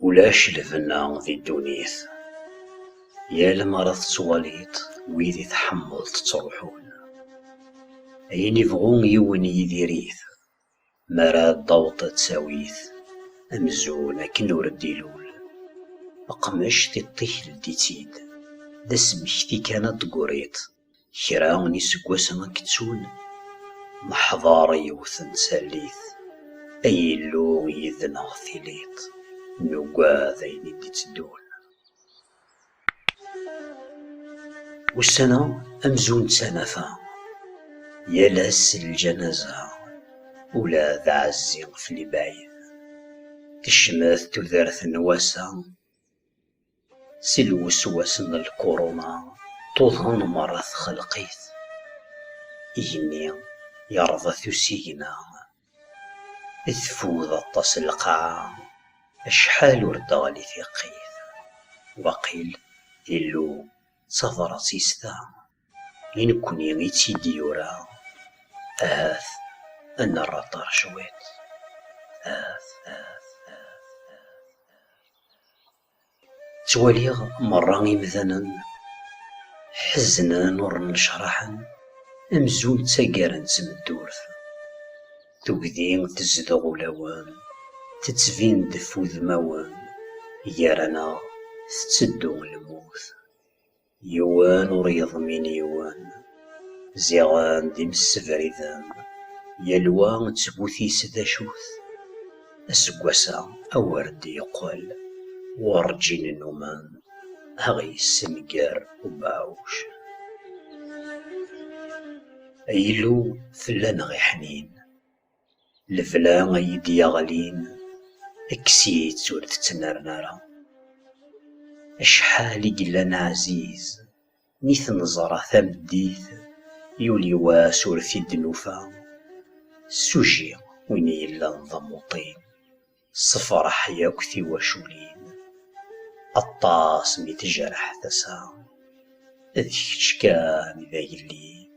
Ulac lbenna di ddunit, yal mi ara tettwaliḍ wid i tḥemmleḍ ttruḥun, ayen ibɣu yiwen yidir-it. mi ara d-taweḍ ttawit amzun akken ur d-ilul leqmec tiṭ-ik ldi-tt-id d asmekti kan a d-tegriḍ kra n iseggasen ad k-ttun neḥder yiwet n tallit ay Illu yid-neɣ tiliḍ nugad ayen i d-iteddun Ussan-a amzun d tanafa, yal ass d lǧanaza, ula d aɛezzi fell-i bɛid. Tecmet tudert n wass-a, si lweswas n lkuruna tuḍen merra txelq-it. Igenni yerḍa-t usigna. Teffud aṭas lqaɛa, acḥal ur d-teɣli tiqqit. Waqil Illu d tabrat-is ta, i nekkni i tt-id-yura. Ahat ad nerr aḍar cwiṭ. Ttwaliɣ merra imdanen ḥeznen ur nnecraḥen amzun ttagaren d tmeddurt. Tugdi tezdeɣ ulawen, tettbin-d f udmawen, gar-aneɣ tetteddu lmut. Yiwen ur yeḍmin yiwen. Ziɣen d imessebriden, yal wa d tgut-is d acu-t. Aseggas-a awer d-yeqqel werǧin nnumen a ɣ-yessenger ubeɛɛuc. Ay Illu tella neɣ iḥnin, Lebla ay iyi-d-yeɣlin, kkes-itt ur tettnerni ara. Acḥal i yellan ɛziz, mi t-neẓra tameddit, yuli wass ur t-id-nufa. Suji win i yellan d amuṭin, tessefṛeḥ yakk tiwaculin. Aṭas mi tejreḥ tasa, d kečč kan i d agellid.